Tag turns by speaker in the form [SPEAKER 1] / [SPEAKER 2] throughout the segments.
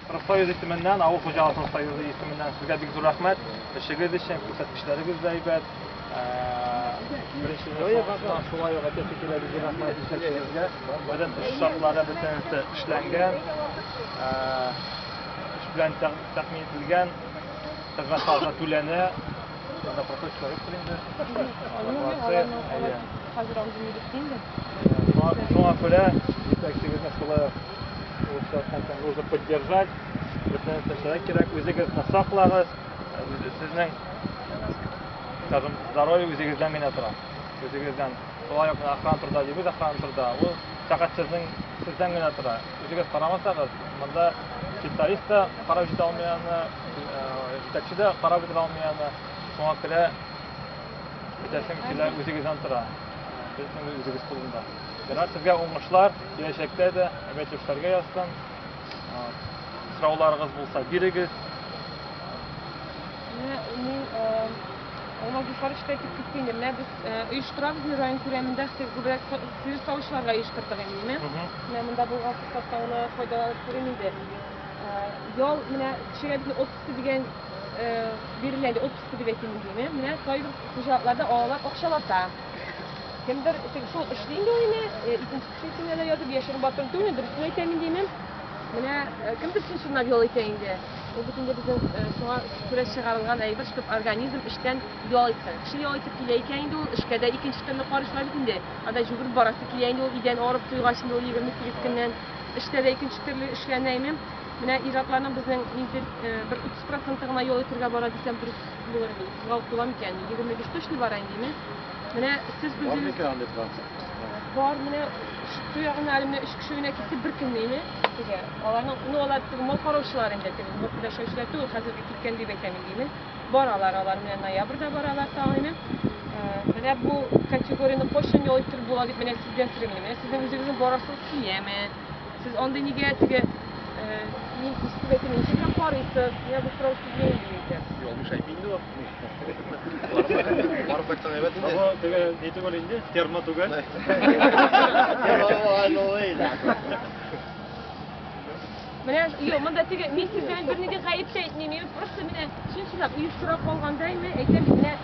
[SPEAKER 1] Профсоюз исеменнән, авыл хуҗалыгы профсоюзы исеменнән сезгә бик зур рәхмәт. Эшегез өчен күрсәткечләрегез дә әйбәт. Беренче ясалышына шулай ук әйтәсе килә бик зур рәхмәт җитәкчегезгә. Бөтен эш шартлары бөтенесе эшләнгән. Эш белән тәэмин ителгән. Хезмәт хакы түләнә. Анда процесс корректор инде. Хәзер андый
[SPEAKER 2] медицина. Шуңа
[SPEAKER 1] күрә җитәкчегезне шулай Нужно поддержать. Бөтен нәрсә кирәк. Үзегезне саклагыз. Сезнең скажем, здоровье үзегездән генә тора. Үзегездән. Шулай ук охрана турында дибез, охрана турында. Ул фәкать сезнең сездән генә тора. Үзегез карамасагыз, монда специалист та карап җитә алмый аны, җитәкче дә карап бетерә алмый аны. Шуңа күрә бөтәсен килә үзегездән тора. Безнең үзегез кулында. Ренат, сезгә уңышлар, киләчәктә дә әмәт эшләргә язсын. Сорауларыгыз булса, бирегез. Менә мин
[SPEAKER 2] Алмаз Зуфарович та әйтеп китте инде. Менә без оештырабыз инде район күләмендә күбрәк сыер савучыларга оештырдык инде, менә. Менә монда булган форсатта гына файдаланып күрим инде. Ял менә кешегә бит отпуск дигән бирелә инде, отпуск дип әйтим инде, менә кайбер хуҗалыкларда алалар акчалата. Кемдер теге шул эшли инде ул инде, э, икенче кеше исеменә дә язып, яшерен батыр түгел, дөресен әйтәм инде мин. Менә э, кемдер чын-чынлап ял итә инде. Ул бит инде безнең э, шуңа күрә чыгарылган әйбер, чтобы организм эштән ял итсен. Кеше ял итеп килә икән инде ул, эшкә дә икенче төрле карышлар бит инде. Анда жүгереп барасы килә инде ул, идән арып туйгач инде ул 28 көннән. Эштә дә икенче төрле эшләнә, әйме? Менә ир-атларның безнең нидер э, бер 30 проценты гына ял итәргә бара дисәм дөрес Булыр инде, утызга ук тула микән инде, егерме биш точно бара инде, имеш. Менә сез Бар үзегез... микән андый процент? Бар, менә шиту ягына әле менә өч кеше генә китте бер көнне ине. Теге, аларның, ну алар теге мал караучылар инде, теге мал педашаучылар түгел, хәзерге киткән дип әйтәм инде, име. Баралар алар, менә ноябрьдә баралар тагы, име. Менә бу категорияне кайчан ял иттереп була дип менә сездән сорыйм инде. Менә сезнең үзегезнең барасыгыз киләме? Сез андый нигә теге мин күзсез әйтәм, ничек һәм карыйсыз? Менә бу сорау сезгә инде икән. Ялгыш әйтми инде
[SPEAKER 1] ул. Барып кайтсаң
[SPEAKER 3] әйбәт инде. Бу теге ни түгел
[SPEAKER 1] инде, термо түгел.
[SPEAKER 2] Менә юк, монда теге мин сездән бернинди гаеп тә әйтмим. Мин просто менә чын чынлап оештыра калгандаймы, әйтәм, менә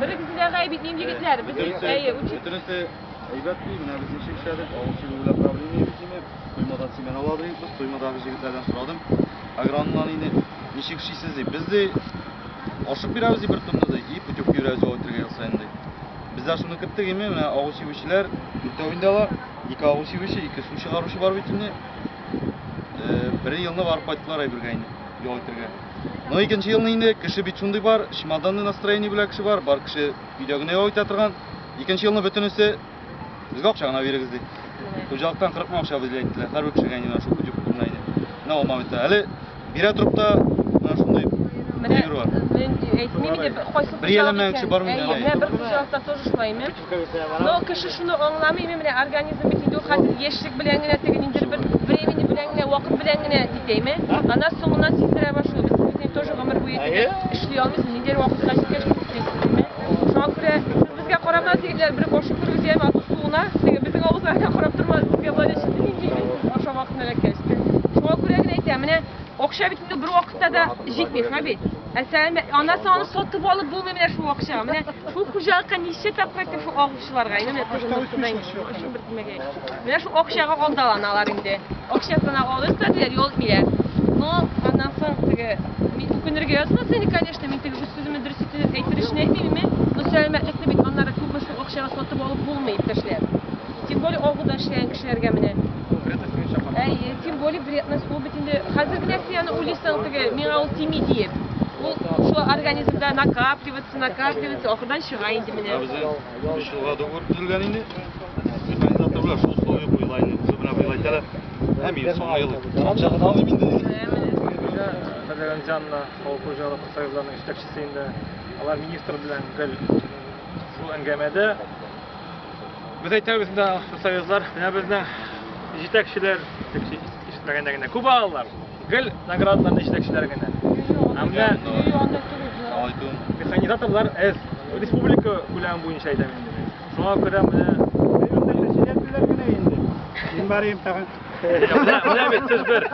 [SPEAKER 2] Берегезне дә
[SPEAKER 3] гаеп итмим, егетләр. Без бит, әйе, үчеп. Бөтенесе әйбәт ди, менә без ничек эшләдек, авыл чибе белән проблема юк дими. Коймадан семена ладыйк без, коймадагы җегетләрдән сорадым. Агрономнан инде ничек эшлисез ди. Без ди ашык бирәбез ди бер тонны ди, и путевка йөрәбез ди өлкергә ел саен ди. Без дә шуны көттек инде, менә авыл чибүчеләр дүртәү инде алар. Ике авыл чибүче, ике су чыгаручы бар бит инде. Бер елны барып кайттылар әйбергә инде, ял итәргә. Но икенче елны инде кеше бит шундый бар, чемоданный настроение белән кеше бар, бар кеше өйдә генә ял итә торган. Икенче елны бөтенесе безгә акча гына бирегез ди. Хуҗалыктан 40 мең акча бизли әйттеләр. Һәрбер кешегә инде шул күтү күтү генә иде. Менә ул моментта. Әле бирә торып та менә шундый Менә, фигур бар. мен әйтмим иде, кайсы Бер яланмаган кеше бармы инде, әйе. Менә бер хуҗалыкта
[SPEAKER 2] тоже шулай, мен Но кеше шуны аңламыймы, менә организм бит инде ул хәзер яшьлек белән генә теге ниндидер бер времени белән генә, вакыт белән генә дитәйме? Ана соңыннан сиздерә башлый. Без бит инде тоже гомер буе теге эшли алмыйсыз, ниндидер вакытка җиткәч бит эшлисез, димме? Шуңа күрә сез безгә карама, егетләр, бер кашык күрегез яме ату суына, теге безнең авызга гына карап тормагыз, безгә болай да читеним, димме? Ашау вакытын эләккәч. Шуңа күрә генә әйтәм, менә акча бит инде бер вакыт да җитми, Хәбит. Ә сәләм, анасы аны сатып алып булмый менә шул акчага. Менә шул хуҗалыкка ничә тапкыр әйтте шул агучыларга. Инде менә кызым өстеннән өчен бер тимәгәй. Менә шул акчага алдаланалар инде. Акчасына алып та диләр, ял итмиләр. Но аннан соң теге мин үкенергә язмас инде, конечно, мин теге үз сүземне дөрес итеп әйтер өчен әйтмим, но сәламәтлекне бит аннары күпме шул акчага сатып алып булмый, иптәшләр. Тем более авылда эшләгән кешеләргә менә. Әйе, тем более вредность ул бит инде. Хәзер генә син аны уйлыйсың теге, миңа ул тими диеп. Ул шул организмда накапливаться, накапливаться, ахырдан чыга инде менә. Безнең өч елга
[SPEAKER 3] договор төзелгән инде. Механизаторлар шул условие куела инде. Уже менә быел әйтәләр. Ә мин соңгы ел. Соңгы ел алмыйм инде. Хәзер
[SPEAKER 1] Җанна, авыл хуҗалыгы союзларының җитәкчесе инде. Алар министр белән гел шул әңгәмәдә. Без әйтәбез инде профсоюзлар, менә безнең җитәкчеләр, җитәкче ишетмәгәндә генә күп алалар. Гел наградаларны җитәкчеләр генә. Ә менә механизаторлар эз республика күләме буенча әйтәм инде. Шуңа күрә менә җитәкчеләр генә инде.
[SPEAKER 4] Мин барыйм тагын. Менә
[SPEAKER 1] бит сез бер.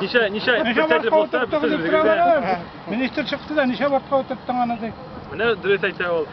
[SPEAKER 1] Ничә ничә председатель булса, без Министр чыкты
[SPEAKER 4] да, ничә вакытка утырттың аны ди. Менә дөрес әйтә
[SPEAKER 1] ул.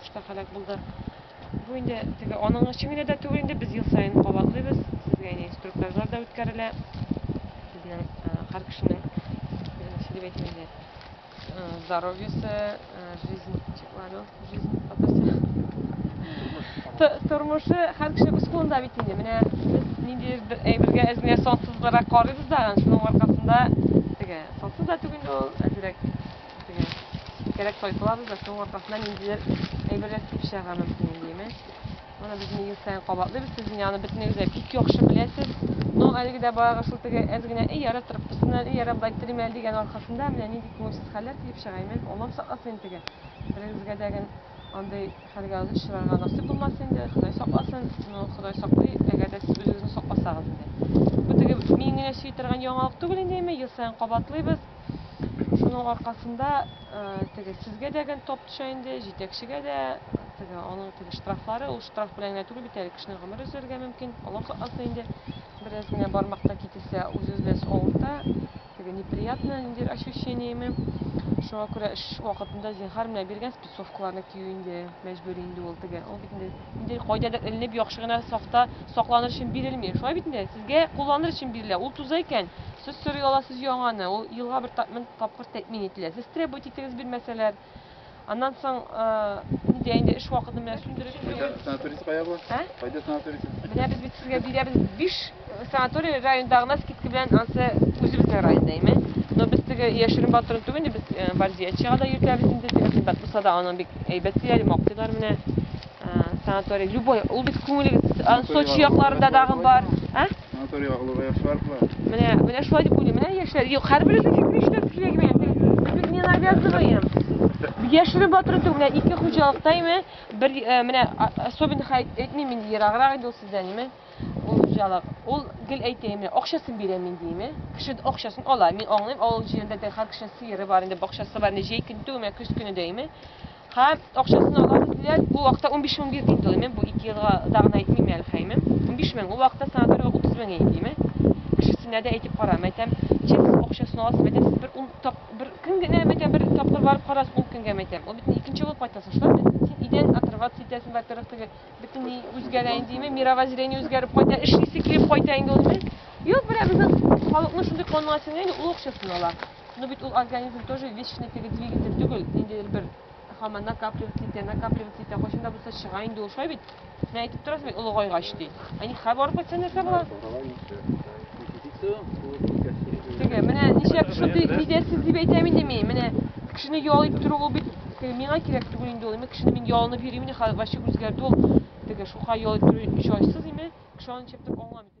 [SPEAKER 2] сугышта һәлак булды. Бу инде теге аның өчен генә дә түгел инде без ел саен кабатлыйбыз. Сезгә инде инструктажлар да үткәрелә. Безнең һәр кешенең Э, здоровье се, э, жизнь, чекларю, жизнь, атасы. Тормышы һәр кеше үз кулында бит инде. Менә без нинди бер әйбергә әзмә сансызлырак карыйбыз да, шуның аркасында теге сансыз да түгел инде ул, әзрәк теге кирәк тайпылабыз да, шуның аркасында ниндидер әйберләр кип чыгарга мөмкин инде, Моны без ел саен кабатлыйбыз, сез менә аны бөтенегез дә бик яхшы беләсез. Но әлеге дә барыгыз шул теге әз генә эй яра трубкасыннан, эй яра былай телим әле дигән аркасында менә нинди күңелсез хәлләр килеп чыга. Имән, Аллам сакласын инде теге. Берегезгә дә гел андый хәлгә очрарга насыйп булмасын инде, Ходай сакласын. Ну, Ходай саклый, әгәр дә сез үзегезне сакласагыз инде. Бу теге мин генә сөйли торган яңалык түгел инде, имән, ел саен кабатлыйбыз. Шуның аркасында теге сезгә дә гел топ төшә инде, җитәкчегә дә теге аның теге штрафлары, ул штраф белән генә түгел бит әле кешенең гомере өзелергә мөмкин. Аллаһ сакласын инде. Бераз генә бармакта кителсә, үз-үзләс авырта. Теге неприятно ниндидер ощущениеме. Шуңа күрә эш вакытында зинһар менә биргән Совкларны кию инде мәҗбүри инде ул теге. Ул бит инде инде кайдадыр эленеп, яхшы гына сафта сакланыр өчен бирелми. Шулай бит инде? Сезгә кулланыр өчен бирелә. Ул туза икән, сез сорый аласыз яңаны. Ул елга бер тапмын тапкыр тәэмин ителә. Сез требовать итегез бирмәсәләр. Аннан соң, нидә инде эш вакытын менә сүндереп. Кайда санаторийсы кая бу?
[SPEAKER 3] Ә? Кайда санаторийсы? Менә без бит сезгә
[SPEAKER 2] бирәбез биш Санаторий районда гына скидка белән ансы үзебезнең районда име. Но без теге яшерен батырын түгел инде, без э, Варзиячыга да йөртәбез инде, теге кыйбат булса да аның бик әйбәт диләр, мактыйлар менә э, санаторий. Любой, ул бит күңелегез, ан- Сочи якларында дагы бар. Ә? Санаторийга
[SPEAKER 3] олыга яшьләр була. Менә, менә шулай дип
[SPEAKER 2] уйлыйм. Менә яшьләр, юк, һәрберебез фикер эшләп килә генә. Без не навязываем. Яшерен батырын түгел, менә ике хуҗалыкта име, бер, э, менә а- особенных әйт- әйтмим инде, ераграк инде ул сездән име. Ул хуҗалык, ул гел әйтәем, акчасын бирәм мин, дим. Кеше акчасын ала. Мин аңлыйм, авыл җирендә дә һәр кешенең сыеры бар инде, бакчасы бар инде, җәй көн түгелме, көз көне дәйме. Һәм акчасын ала диләр. Ул вакытта 15 мең бир диде ул. Бу 2 елга дагын әйтмим әле хәйме. 15 мең. Ул вакытта санаториягә 30 мең иде диме. Кешесенә дә әйтеп кара, мәйтәм, чек акчасын аласыз, мәйтәм, сез бер ун тап, бер көн генә мәйтәм, бер тапкыр барып карасыз, ул көнгә мәйтәм. Ул бит икенче булып кайтасыз, шулай бит? Син идән отрываться итәсең, во-первых, теге Бөтенләй үзгәрә инде, мировоззрение үзгәреп кайта, эшлисе килеп кайта инде ул. Юк, бирә безнең халыкның шундый канына сеңә инде ул акчасын ала. Но бит ул организм тоже вечный теге двигатель түгел, инде бер хаман накапливаться итә, накапливаться итә, кайчан да булса чыга инде ул, шулай бит? Менә әйтеп торасыз бит, олыгайгач ди. Ә ни хәбәр кайта нәрсә була? Теге, менә нишләп шундый мизәсез дип әйтәм инде мин. Менә кешене ял итеп тору ул бит теге миңа кирәк түгел инде ул. Мин кешене мин ялынып йөрим инде, хәзер вообще үзгәрде ул. Теге шука ял итеп тору чайсыз име? Кеше аны чәптәп аңламый.